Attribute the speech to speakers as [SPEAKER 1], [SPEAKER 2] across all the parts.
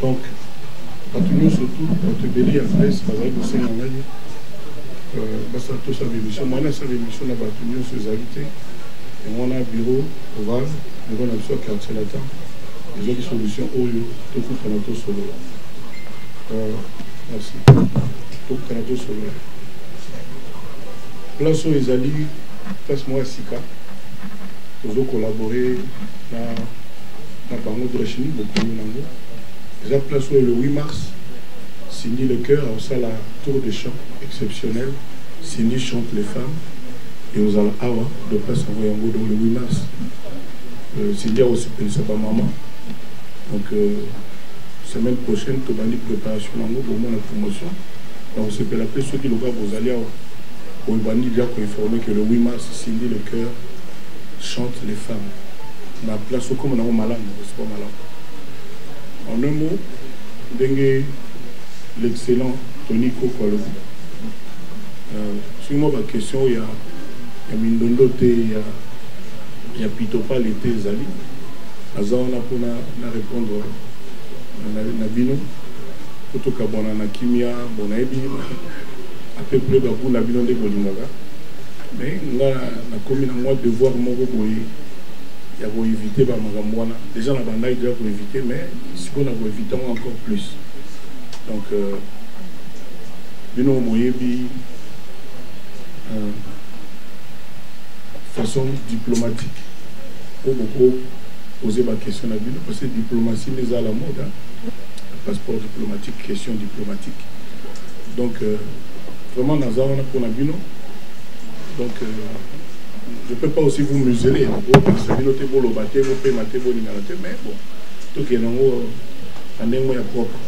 [SPEAKER 1] donc bato nyonso tu bato ebele ya presse bazali kosenga ngai euh, basala tosala émission mwana asala émission na bato nyonso ezali te yango wana bureau oval bureau na biso ya quartier latin ezwaki solution oyo tokutana tosolola euh, merci tokutana tosolola place oyo ezali place moko ya sika tozo collaborer na na bango de la chimie bokomi nango eza place oyo le 8 mars Cindy le cœur aosala tour de chant exceptionnel Cindy chante les femmes et ozala awa de place yango yango donc le 8 mars euh, Cindy akosepelisa bamama donc euh, semaine prochaine tobandi préparation nango bomona promotion nakosepela mpe soki loka bozali awa oyo bandi déjà koinforme que le 8 mars Cindy le cœur chante les femmes na place okoma nango malamu okosuka malamu en un mot ndenge l'excellent tony koko alobi euh, soki mwa baquestion ya ya mindondo te ya ya pitopale te ezali aza wana mpona na répondre na bino po tokabwana na kimia bonayebi apeupre bagout na bino nde bolingaka mais nga nakomi na mwa devoir moko boye ya koevite bamakambo wana deja na bandaki deja koevite mais sikoyo na koevite yango encore plus donc euh, bino moyebi euh, façon diplomatique oyo bokopoze baquestion na bino parce que diplomatie nde eza la mode hein? passeport diplomatique question diplomatique donc euh, vraiment naza wana mpona bino donc euh, je peux pas aussi vous museler bopekisa bino te boloba te bopema te bolingana te mais bon tokende yango na ndenge moko ya propre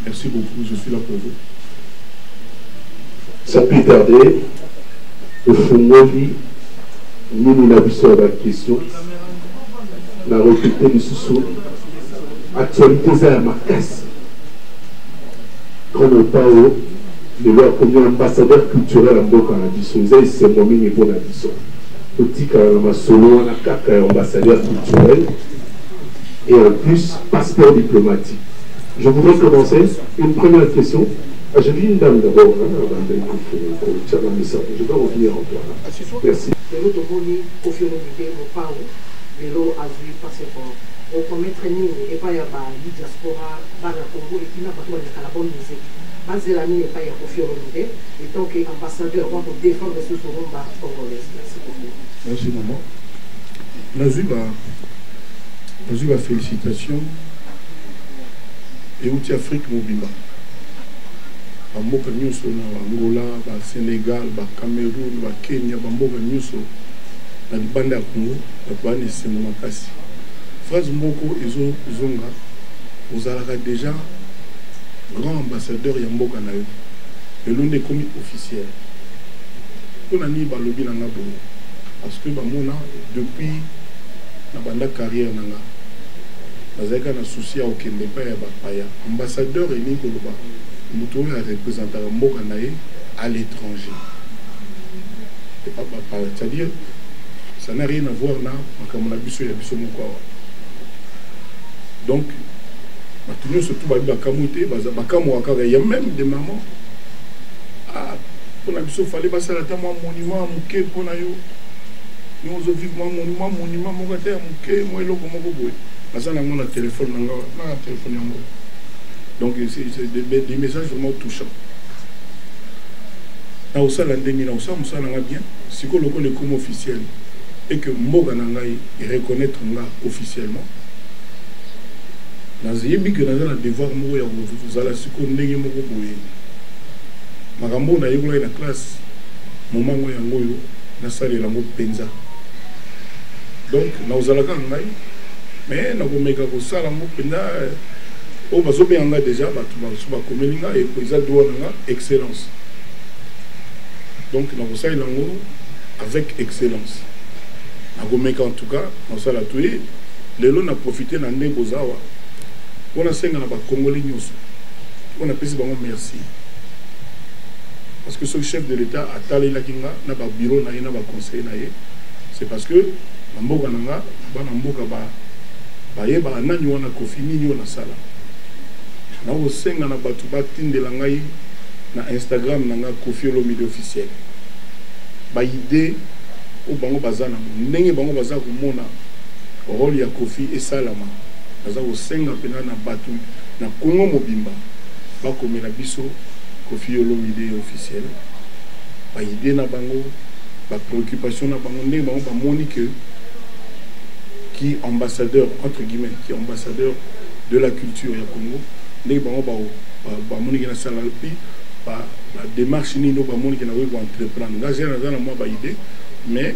[SPEAKER 1] merci beaucoup je suis là pour vous
[SPEAKER 2] sans plus tarder tofungoli mini na biso ya baquestion na repete lisusu actualité eza ya makasi grand mopao Lelo akomi ambassadeur culturel ya mboka na biso. Eza esengo mingi mpo na biso. Totikala na masolo wana kaka ya ambassadeur culturel et en plus passeport diplomatique. Je voudrais commencer une première question. Ah, je dis une dame d'abord, hein, avant de kotia na mesa. Je dois revenir en toi. Merci. lelo tomoni kofi olomide mopao lelo
[SPEAKER 3] azwi passeport okometre nini epai ya ba diaspora bana congo epi na bato balekala bonne musique Ba zela nini epayi ya Koffi Olomide etant que ambassadeur po ako defendre lisusu rumba congolaise? Merci
[SPEAKER 1] beaucoup. Merci maman. Nazui ba nazui ba felicitations euti Afrique mobimba. Ba mboka nyonso na Angola, ba Senegal, ba Cameroun, ba Kenya, ba mboka nyonso na libanda ya Congo bato baa na esengo makasi. Phrase moko ezo zonga ozalaka deja Grand ambassadeur ya mboka na yo lelo nde ekomi officiel mpo na nini balobi na nga bongo parce que bamona depuis na banda carrière na nga nazalaki kaka na souci ya kokende epai ya bapaya ambassadeur elingi koloba moto oyo arepresentaka mboka na ye à l'étranger epa bapaya c'est-à-dire ça n'a rien à voir na makambo na biso ya biso moko awa donc bato nyonso tu babi bakamwi te bakamwaka kaka ya meme de maman ah, mpo na biso fale basala ata mwa monument ya moke mpo na yo yo ozovive mwa monument monument moko ata ya moke mwa eloko moko boye aza nango na telefone na nga na telefone yango donc des messages vraiment touchant na osala ndenge na osala mosala na nga bien sikoyo lokola ekoma officiel et que mboka na ngai ereconnaitre nga officiellement Nazo yebi que naza na devoir moko ya ko zala sikoyo ndenge moko boye. Makambo oyo na yekolaki na classe, moment ngo yango oyo na salela ngo penza. Donc nako zala kaka ngai mais nako meka ko sala ngo penza euh, oyo bazo benga nga deja batu ba su ba komeli nga et eza droit na nga excellence. Donc nako salela ngo avec excellence. Nako meka en tout cas, nako sala tout Lelo na profiter na ndenge boza awa po nasenga na ba Congolais nyonso po napesi bango merci parce que soki chef de l'Etat atalelaki nga na ba bureau na ye na ba conseil na ye c'est parce que na mboka na nga bana mboka ba bayebaka nani wana kofi nini oyo nasala nakosenga na bato batindela ngai na instagram na ngai kofi olomide officiel baide oyo bango baza nango ndenge bango baza komona role ya koffi esalama naza kosenga penza na batu na congo mobimba bakomela biso koffi olomide officiel ba idee na bango ba preoccupation na bango ndenge bango bamoni que ki ambassadeur entre guillemets ki ambassadeur de la culture ya congo ndenge bango bamoni ke nasala pi ba démarche nini oyo bamoni ke nakoki ko entreprendre nga naza na mwa ba idee mais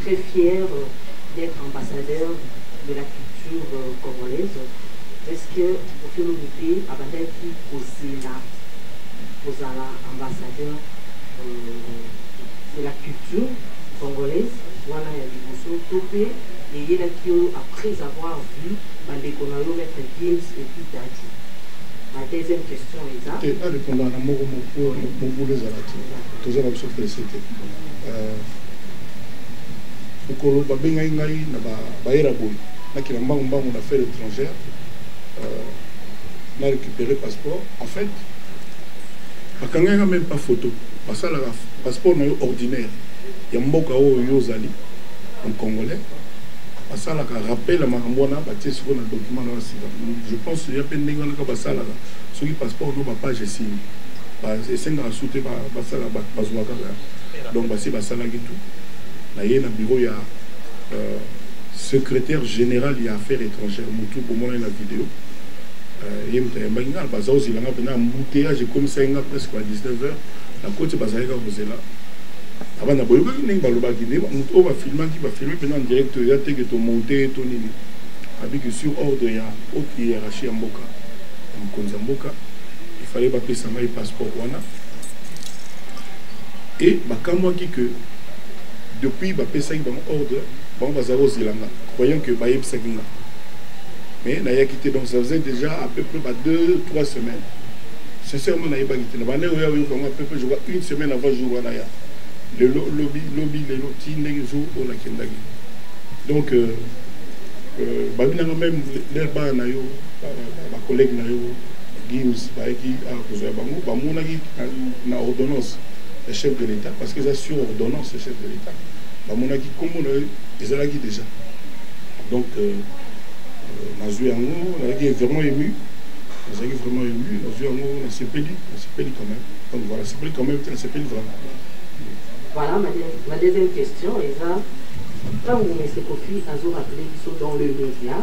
[SPEAKER 3] très fière d'être ambassadeur de la culture euh, congolaise est ce que kofi olomide abandaki kozela kozala ambassadeur euh, de la culture congolaise wana ya liboso to mpe eyelaki yo après avoir vu bandeko na yo maître games epuis dati ma deuxième question eza te arépondaka na moko
[SPEAKER 1] mobulu ezala te toza na biso presse te euh, mokolo babengaki ngai na bayera boye nakela mbangu mbangu na affaire étrangère euh, na récupéré passeport en fait bakangaki nga même pas photo basalaka passeport na yo ordinaire ya mboka oyo yo ozali en congolais basalaka rappel ya makambo wana batie siko na document na basika je pense ya mpe ndenge wana kaka basalaka soki passeport no bapage esili esengaka su te basala bazwa kaka Donc basi basalaki tout naye na bureau ya euh, secrétaire général ya affaires étrangères mutu bomonani na video euh, ye moto ayambaki nga baza ozela nga mpena embouteillage ekomisaki nga presque ba 19 heures nakoti bazalaki kaka kozela abana boyokaki ndenge balobaki nde moto oyo bafilmaki bafilme mpena en direct ya teke tomonte to nini abiki sur ordre ya haute hiérarchie ya mboka ya mokonzi ya mboka ifale bapesa ngai passeport wana et bakamwaki que depuis bapesaki bango ordre bango bazala kozela nga croyant que bayebisaki nga mais nayaki te donc ça faisait déjà à peu près ba deux trois semaines sincèrement nayebaki te na banda oyo ayoka yango à peu près je crois une semaine avant jour wana ya lelo lobi lobi lelo ti ndenge jour oyo nakendaki donc euh, euh, babi nanga même leur bana na yo bacollègue na yo gims bayaki akozwa bango bamonaki na ordonnance ya chef de l'Etat parce que eza sur ordonnance ya chef de l'Etat bamonaki nkombo na ye ezalaki déjà donc euh, euh, nazwi yango nazalaki vraiment ému nazalaki vraiment ému nazwi yango nasepeli nasepeli quand même donc voilà sepeli quand même te nasepeli vraiment voilà ma,
[SPEAKER 3] ma deuxième question eza ntango mese kofi azorappele biso dans le média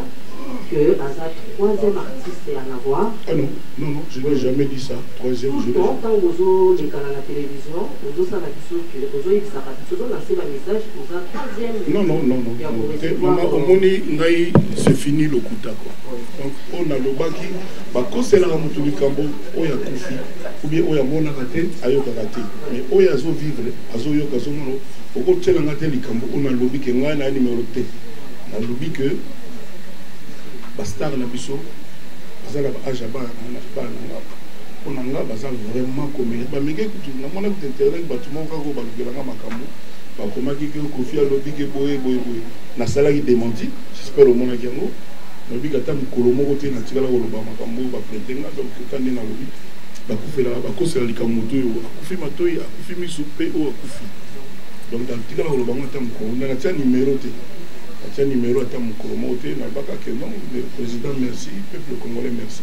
[SPEAKER 3] que aza troisième artiste ya navoir ah non non non
[SPEAKER 1] je n'ai jamais dit ça Tout le temps tango bozo
[SPEAKER 3] lekana na television ozo sala biso que ozo yebisaka biso ozo lancer ba message oza troisième non non non non ya ko recevoir maman omoni ngai c'est fini lokuta quoi donc oyo nalobaki bakoselaka motu likambo oyo akufi oubien oyo amonaka te ayokaka te mais oyo azo vivre azoyoka azomono okotyela ngai te likambo oyo nalobi ke ngai na numero te nalobi ke bastar na biso baza na baage ya bana Papa pona nga baza vraiment commune ba mege kutu na mona kutu internet batu moko kako ba lukela nga makambo ba komaki ke kofi alobi ke boye boye boye na salaki dementi j'espère omona ki yango na bi kata mukolo moko te na tikala ko loba makambo ba prete nga donc ka nde na lobi ba kufela ba kosela likambo to yo akufi matoyi akufi misu pe o akufi donc na tikala ko loba nga ta mukolo na tia numero te atia
[SPEAKER 1] numero ata mukolo moko te na baka ke non le président merci peuple congolais merci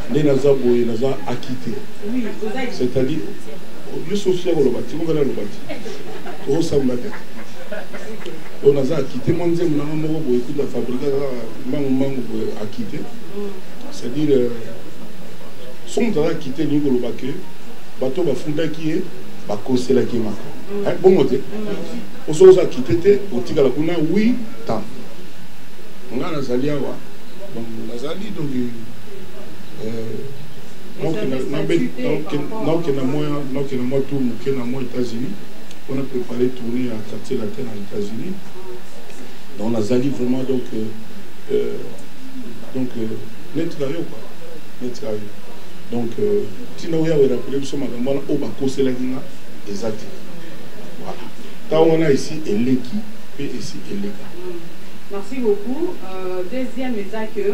[SPEAKER 1] nde naza boye naza akite c'est-à-dire yo soki ya koloba ti mokana aloba ti tokosamba te oyo naza akite mwa nzembo nanga moko boye kuta fabrika kaka mbangu mbangu boye akite c'est-à-dire euh, soki moto aza akite elingi koloba ke bato bafundaki ye bakoselaki ye maka mm. eh, bongo te mm. osoki oza akite te otikala kuna wi tan ngai nazali awa donc nazali donc naoke na mwa naoke na mwa tour moke na mwa états-unis mpona prépare tourné ya quartier latin na états-unis donc nazali vraiment donc euh, euh donc euh, neti na yo kua neti na yo donc euh, ntina oyo yawe rapele biso makambo wana oyo bakoselaki nga eza te voilà ntango wana esi eleki mpe esi eleka merci beaucoup
[SPEAKER 4] euh, deuxième eza que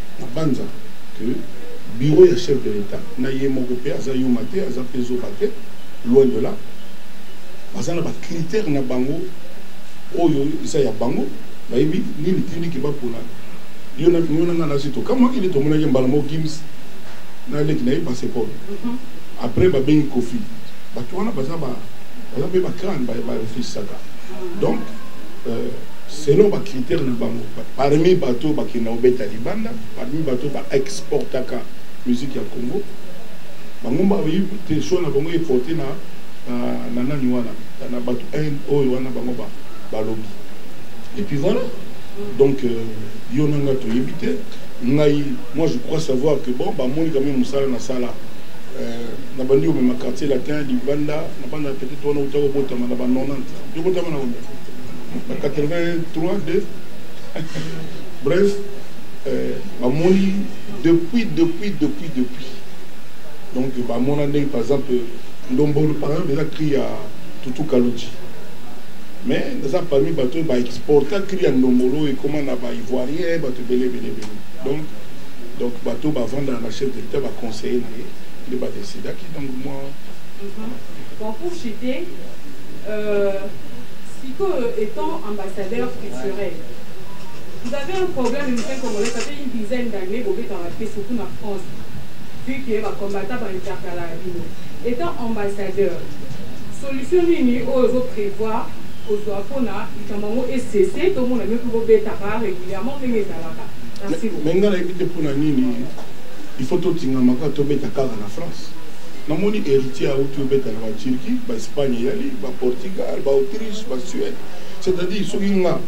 [SPEAKER 1] Nabanza que bureau ya chef de l'etat na ye moko mpe aza yuma te, aza mpe zoba te, loin de là. Baza na ba critères na bango oyo eza ya bango, bayebi nini tindiki bapona. Yo na yo na nga nasi tokamwaki nde tomonaki mbala moko Gims na leki na ye Paseport. Après babengi Koffi. Bato wana baza ba baza mpe ba crane ba refusisaka. Donc euh, selon ba critères na bango. Parmi bato oyo bakendaka kobeta libanda, parmi bato oyo ba exportaka musique ya Congo, bango ba tension na bango e porter na na nani wana na bato oyo wana bango ba balobi et puis voilà donc euh, yo na ngai toyebi te ngai moi je crois savoir que bon bamoni kame mosala nasala euh, na bandi komema quartier latin libanda na banda peut-être wana uta kobotama na ba 90 tobotama na 83 2 Bref, euh, bamoni depuis depuis depuis depuis donc bamona ndenge par exemple ndombolo par exemple eza cri ya tutu kaloti mais naza parmi bato oyo baexporta cri ya ndombolo oyo ekóma na baivoirien bato ebele ebele ebele donc donc bato bavandaka na chef de l'état baconseiller na ye nde badecidaki donc moi mhm.
[SPEAKER 4] bon pour chite euh, sikoyo étant ambassadeur culturel vous avez un problème le musicien congolais ça fait une dizaine d'années bobetaka te surtout na france vu que bacombatta bainterkala ya bino étant ambassadeur solution nini oyo ozo prévoir kozwa mpona likambo yango esese tomona bino mpe bobetaka régulièrement ndenge
[SPEAKER 1] ezalaka mais ngai nayebi te mpona nini il faut totingama kaka tobeta kaka na france namoni héritier auti obeta na baturquie baespagne eyali baportugal baautriche basuède c'est-à-dire soki nga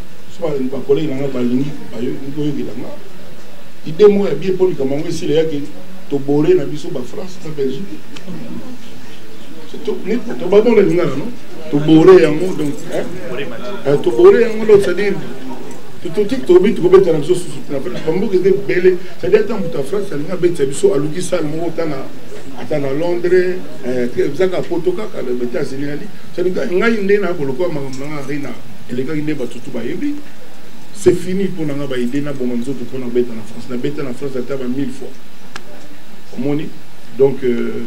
[SPEAKER 1] bakolege na nga balingi koyokela nga ide moko ya bie mpo likambo yango esila yaki tobore na biso bafrance na belgique tobabonda lingana no tobore yango donc eh, tobore yango donc c'est-à-dire totiki tobi tokobeta na biso susu na france bamboka eza ebele c'est-à-dire ata moto ya france alingi abetisa biso aluki sale moko ata na londres eh, ezaka poto kaka na états-unis ali Cest ngai nde na bolokola makambo na ngai arena elekaki nde bato tu bayebi c'est fini mpo na ngai baide naboma nzoto mpo na beta na france nabeta na france ata ba 1000 fois omoni donc euh,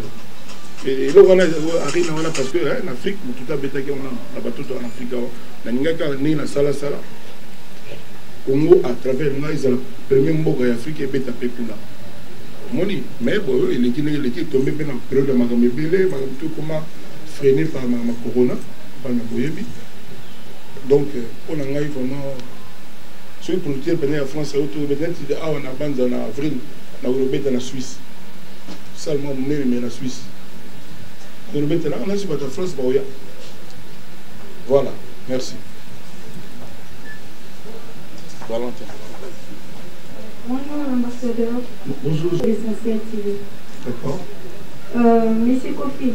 [SPEAKER 1] eloko wana arena wana parce que eh, na afrique motu te abetaki wana na bato to na afrika awa nalingaki kaka ndenge nasalasala congo à travers ngai ezala premier mboka ya afrika ebeta mpe kuna omoni mais boyo eleki ndenge eleki etombe mpe na periode ya makambo ebele makambo tokoma freine par ma, ma corona bana boyebi donc mpo na ngai vraiment soki producteur pene ya france auto neti awa na banza na avril na kolobeta na suisse salement monene me na suisse kolobetela nga nasi bato ya france baoya voilà merci valentin
[SPEAKER 5] Bonjour ambassadeur. Bonjour.
[SPEAKER 1] L'essentiel
[SPEAKER 5] TV. D'accord.
[SPEAKER 1] Euh,
[SPEAKER 5] Monsieur Kofi,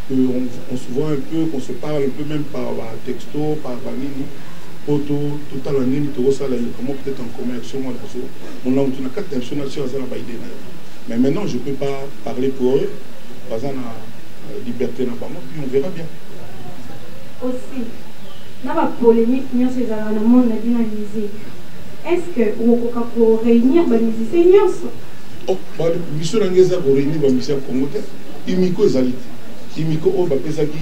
[SPEAKER 1] que on, on se voit un peu qu'on se parle un peu même par ba texto par ba nini po to totala nini tokosala ye comment peut-être en commun action mwana so mona mutu na kati na biso na biso aza na baide na ye mais maintenant je peux pas parler pour eux baza na euh, liberté na bango puis on verra bien aussi
[SPEAKER 5] na bapolémique nyonso ezalaka na monde na bino ya musique est ce que okokoka koréunir
[SPEAKER 1] bamusicien nyonso oh, miso na ngai eza koréunir bamusicien ya congo te Imiko ezali te imiko oyo bapesaki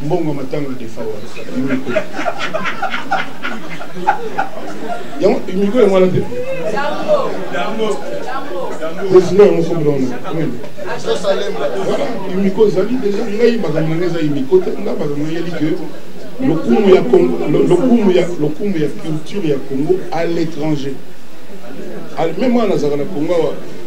[SPEAKER 1] mbongo ya matanga defawa imiko yango imiko yango wana te president yango sobraona imiko ezali deja ngai makambo nanga eza imiko te nga makambo nayeli ke lokumu ya congo lokumu ya lokumu ya culture ya congo à l'étranger même wana nazalaka na congo awa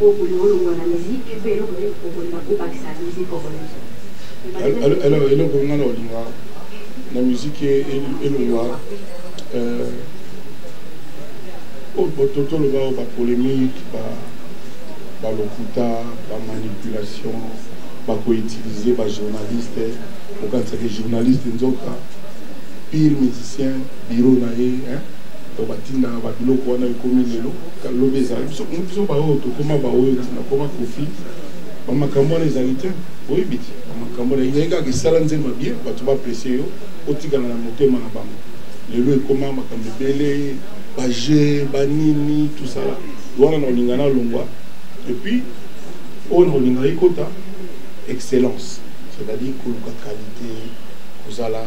[SPEAKER 6] Oyo okolinga olongwa na musique mpe eloko nini okolinga obakisa
[SPEAKER 1] na musique congolaise? Eloko nga na olinga na musique elongwa toloba oyo bapolémique balokuta bamanipulation bakoutilize bajournaliste okanisaki journaliste nzoka pire musicien biro na ye to batindaka babiloko wana ekomi lelo Lobi ezali biso kutu biso baoyo tokoma baoyo ntina akoma kofi bamakambo wana ezali te oyebi te bamakambo wana ezali kaka esala nzema bie bato baprese yo otikala na motema na bango lelo ekoma makambo ebele baje banini tosala wana na olinga na longwa epuis oyo na olinga ekota excellence c'est-à-dire koluka qualité kozala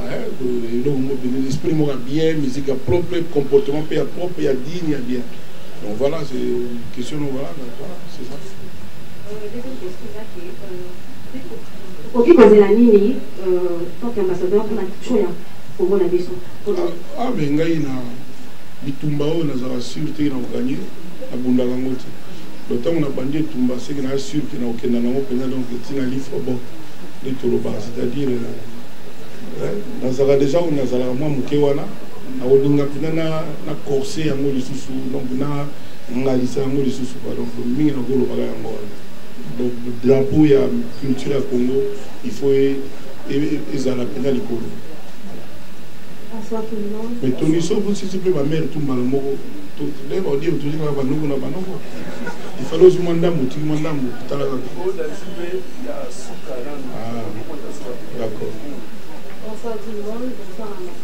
[SPEAKER 1] eloko moko mpenza esprit moko ya bien musique ya propre comportement mpe ya propre ya Yini ya bien. Donc voilà, c'est une question donc voilà, c'est
[SPEAKER 6] ça. okoki kozela nini tanke ambassadeur mpona show ya kongo na biso ah mais
[SPEAKER 1] ngai na bitumba oyo nazala sur te nakoganye nabundaka yango te donc ntango nabandi etumba seke naa sur ke nakokenda nango mpenza donc ntina lifre bon nde tolobaka c'est-à-dire nazalaka déjà oyo nazalaka mwa moke wana nakolinga mpenza na, na corse yango lisusu donc na ngalisa yango lisusu pa donc mingi nakolobaka yango wana donc drapeau ya culture ya congo il faut e, e, e, ezala mpenza likolo
[SPEAKER 5] mais toniso bosisi mpe
[SPEAKER 1] bamare tu mbala moko ndenge baodire tozi kaka banoko na banoko ifale ozwi mwa ndambo otiki mwa ndambo tala kaka ah, d'accord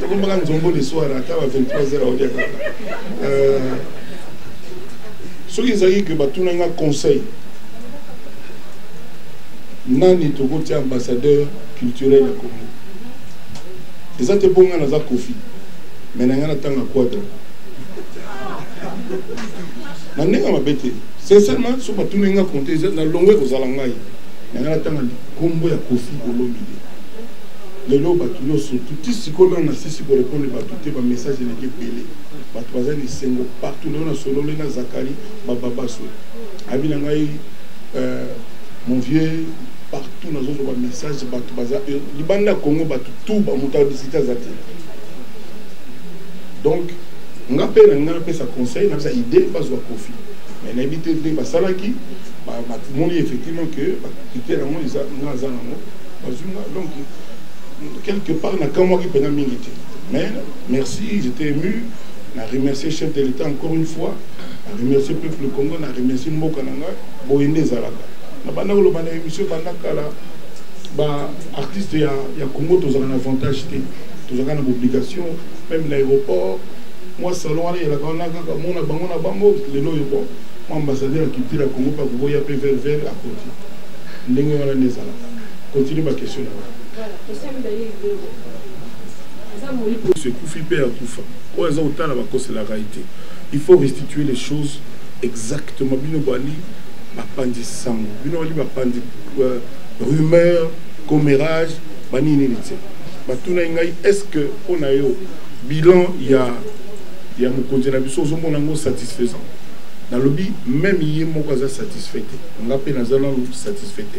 [SPEAKER 1] tokombaka nzombo le soir ata ba 23 heures aolia kaka euh, soki ezalaki ke batuna nga conseil nani tokotia ambassadeur culturel ya congo eza te mpo nga naza kofi me na nga natanga quadra na ndenge ya mabe te sincèrement so batuna nga konte na longwe kozala ngai na nga natanga likombo ya kofi olomide Lelo batu nioso tu ti sikoyo nanu na sisi ko repondre batu te ba message eleki ebele batu baza na esengo partout lelo na sololi na Zakari ba babaso abi na ngai euh, mon vieux partout nazo zo ba message batu baza euh, libanda Congo batu tout ba mutu abisita zate donc nga pe na nga na pesa conseil na pesa idée bazwa kofi mais na yebi te ndenge basalaki ba, ba, moni effectivement que ba critère yango eza nga aza nango bazwi nga donc quelque part nakamwaki mpena mingi te mais merci j'étais ému na remercier chef de l'état encore une fois na remercier peuple congo na remercier mboka na ngai boye nde ezalaka na banda koloba na émission banda kala baartiste ya, ya congo tozalaka na avantage te tozalaka na baobligation meme na aéroport mwa salon wana eyelaka wana kaka mona bango na bango lelo oyo bon mwa ambassadeur ya culture ya congo mpe akokoya mpe ververe akoti ndenge wana nde ezalaka continue ba
[SPEAKER 6] question
[SPEAKER 1] na ngai ekufi mpe akufa oyo aza kotala bakoselaka ye te il faut restituer les choses exactement bino bali bapanzi sango bino bali bapanzi euh, rumeur commérage banini nini te batunaki ngai est ce que mpo na yo bilan ya ya mokonzi na biso ozomona yango satisfaisant nalobi meme ye moko aza satisfait te nga mpe naza nanu satisfait te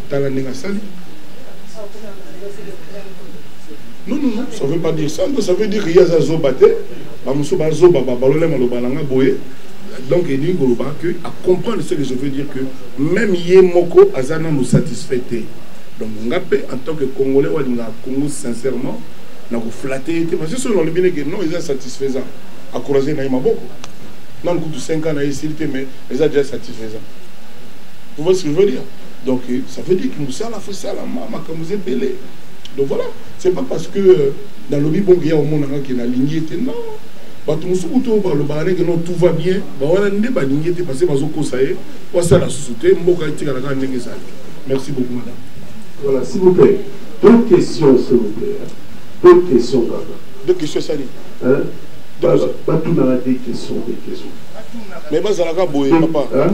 [SPEAKER 1] tala ndenge asali non non non ça veut pas dire ça ça veut dire ye aza zoba te bamosusu bazoba babalole maloba na nga boye donc elingi koloba que acomprendre ce que je veux dire que même ye moko aza nanu satisfait te donc nga mpe en tant que congolais walingaka congo sincèrement na koflate ye te parce que soki nalobi neke non eza satisfaisant akourage na ye maboko nanu kutu 5 ans na ye esili te mais eza déjà satisfaisant vous voyez ce que je veux dire Donc euh, ça veut dire que musala faut sala ma makambo zebele. Donc voilà, c'est pas parce que euh, dans le bon gars au monde hein, qui na lignée que non. bato mosusu kutu oyo balobaka ndenge no tout va bien bawana nde balingi te parce bazokosa ye po asala lisusu te mboka etikala kaka ndenge ezali merci beaucoup madame voilà s'il vous
[SPEAKER 2] plaît deux questions s'il vous plaît deux questions kaka deux questions esali batunaka deux questions deux questions mais bazalaka
[SPEAKER 1] boye papa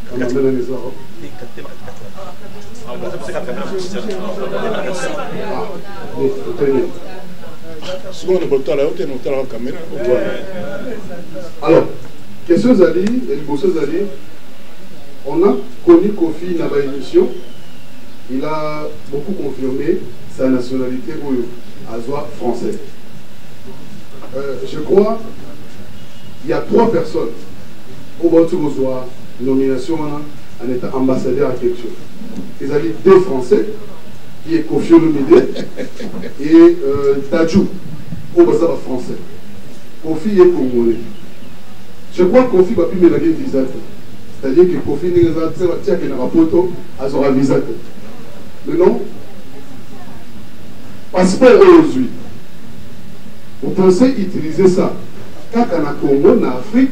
[SPEAKER 2] sikoyo kotala yo te na otalaka kamera alors question ezali ya liboso ezali on a connu kofi na baémission il a beaucoup confirmé sa nationalité oyo azwa français euh, je crois il y a trois personnes Oyo bawuti kozua nomination wana en etant ambassadeur ya Ketsho ezali deux français qui est Koffi Olomide et euh, Dadju oyo baza ba français. Koffi ye congolais. Je crois Koffi bapimelaki visa te. C'est-à-dire que Koffi ndenge eza ti akendaka poto azwaka visa te. Mais non passeport oyo ozwi vous pensez utiliser ça kaka na Congo na Afrique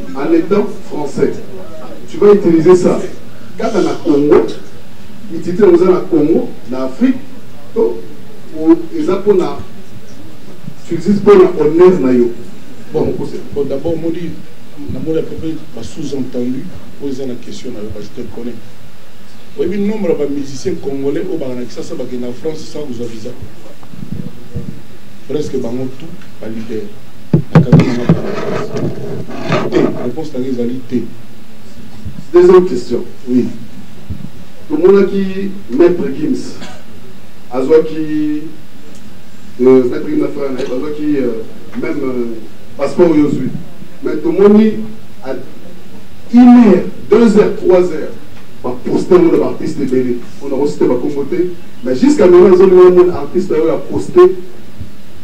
[SPEAKER 2] en etant français tu vas utiliser ça kaka na congo utilité yango eza na congo na afrique to eza mpona tu utilises mpona honneur na yo bon mokose bon d'abord modi
[SPEAKER 1] namoni à peu près ba sous entendu oyo eza na question na yo parce que connais oyebi nombre ya bamusicien congolais oyo baka na kisasa bakenda na france sans kozwa visa presque bango tout balider nakangi nanga paraphrase te réponse nanga ezali te
[SPEAKER 2] deuxième question oui tomonaki maître gims azwaki euh, maître gims na frère na ye bazwaki euh, même euh, passeport oyo ozwi mais tomoni à une heure deux heures trois heures baposte yango na baartiste ebele mpona kosite bakombo te mais jusqu'à maintenant ezolingana mona artiste oyo aposte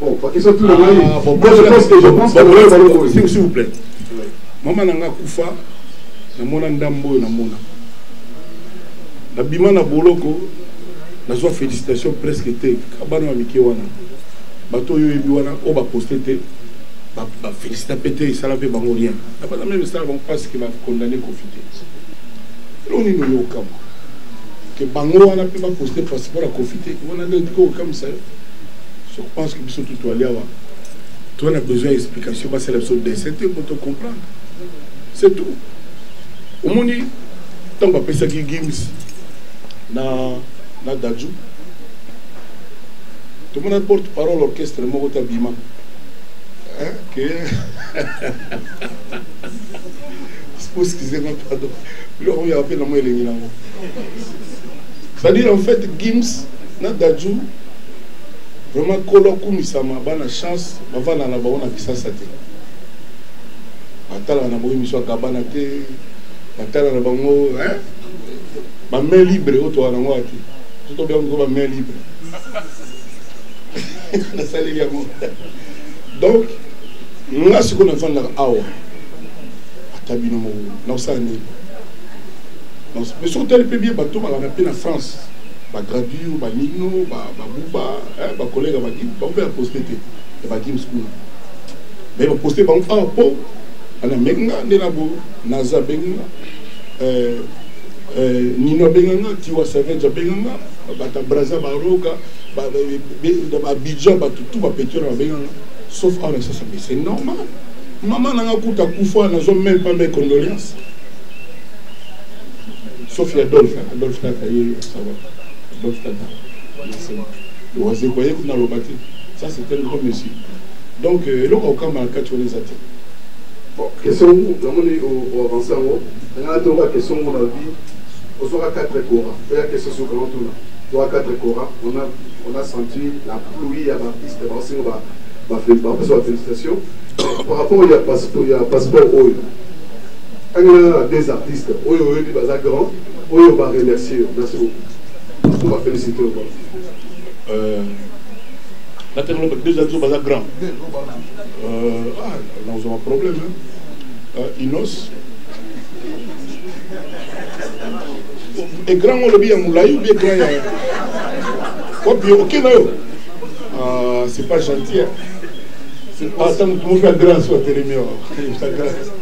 [SPEAKER 1] Bon, pas
[SPEAKER 2] question tout le monde. Ah, bon, Moi, je pense que je pense que bon, bon, bon, bon, s'il vous plaît.
[SPEAKER 1] Maman nanga kufa na mona ndambo na mona. Na bima na boloko na zo félicitations presque te kabana wa mike wana. Bato yo yebi wana o ba poster te ba ba félicita pete isala pe bango rien. Na ba même ça bango parce que ba condamné confité. Loni no yo kama. Que bango wana pe ba poster parce que ba confité. Wana ndio ko kama ça. Je pense que biso tout aller awa. Toi na besoin d'explication ba sala biso dessin te pour te comprendre. C'est tout. Au moins tant ba pesa ki games na na Dadju. Tout le monde porte parole orchestre moko ta bima. Hein que excusez-moi pardon. Là on y a appelé moi les C'est-à-dire en fait Gims na Dadju Vraiment kolo akumisama bana chance bavanda na bango na kisasa te batala na bango emission ya gabana te batala na bango hein? ba main libre oyo toa nango ati so tobenga moko ba main libre nasaleli yango donc nga sikoyo nafandaka awa ata bino moko nakosala nini mais soki otali mpe bie batomaka na mpe na france Ba gradure ba nino ba ba buba eh ba collègue ba gim ba ba poste te et ba gim school mais ba poste ba ah po ana menga ne na bo naza benga euh euh nino benga nga tiwa savage benga nga ba ta braza ba roga ba ba ba bidja ba tout ba petora benga nga sauf en ça mais c'est normal maman nanga kuta kufa nazo même pas mes condoléances Sauf ya Adolphe, Adolphe Tata ye sawa. Adolphe Tata. Nasema. Lowaze kwa ye kuna loba te. Ça c'est un grand monsieur. Donc euh, eloko okamba kati wana eza te. Bon,
[SPEAKER 2] question yango namoni oavance yango. Nanga toka question yango na vie. Osoka 4 kora. Oya question sur comment tuna. Toka 4 kora. On a on a senti la pluie ya bapiste baosinga ba bapesa ba félicitation par rapport ya passeport oyo Tangela nanu deux artistes oyo oyebi baza grand oyo ba remercier yo. Merci beaucoup. Pour ba feliciter yo. Euh
[SPEAKER 1] natangela ba deux artistes baza grand. Euh ah, là on a un problème hein. Euh, Inos e grand ngo olobi ya molai obi grand ya wapi oke na yo ah, c'est pas gentil ata motu mofi ya grand so atelemi awa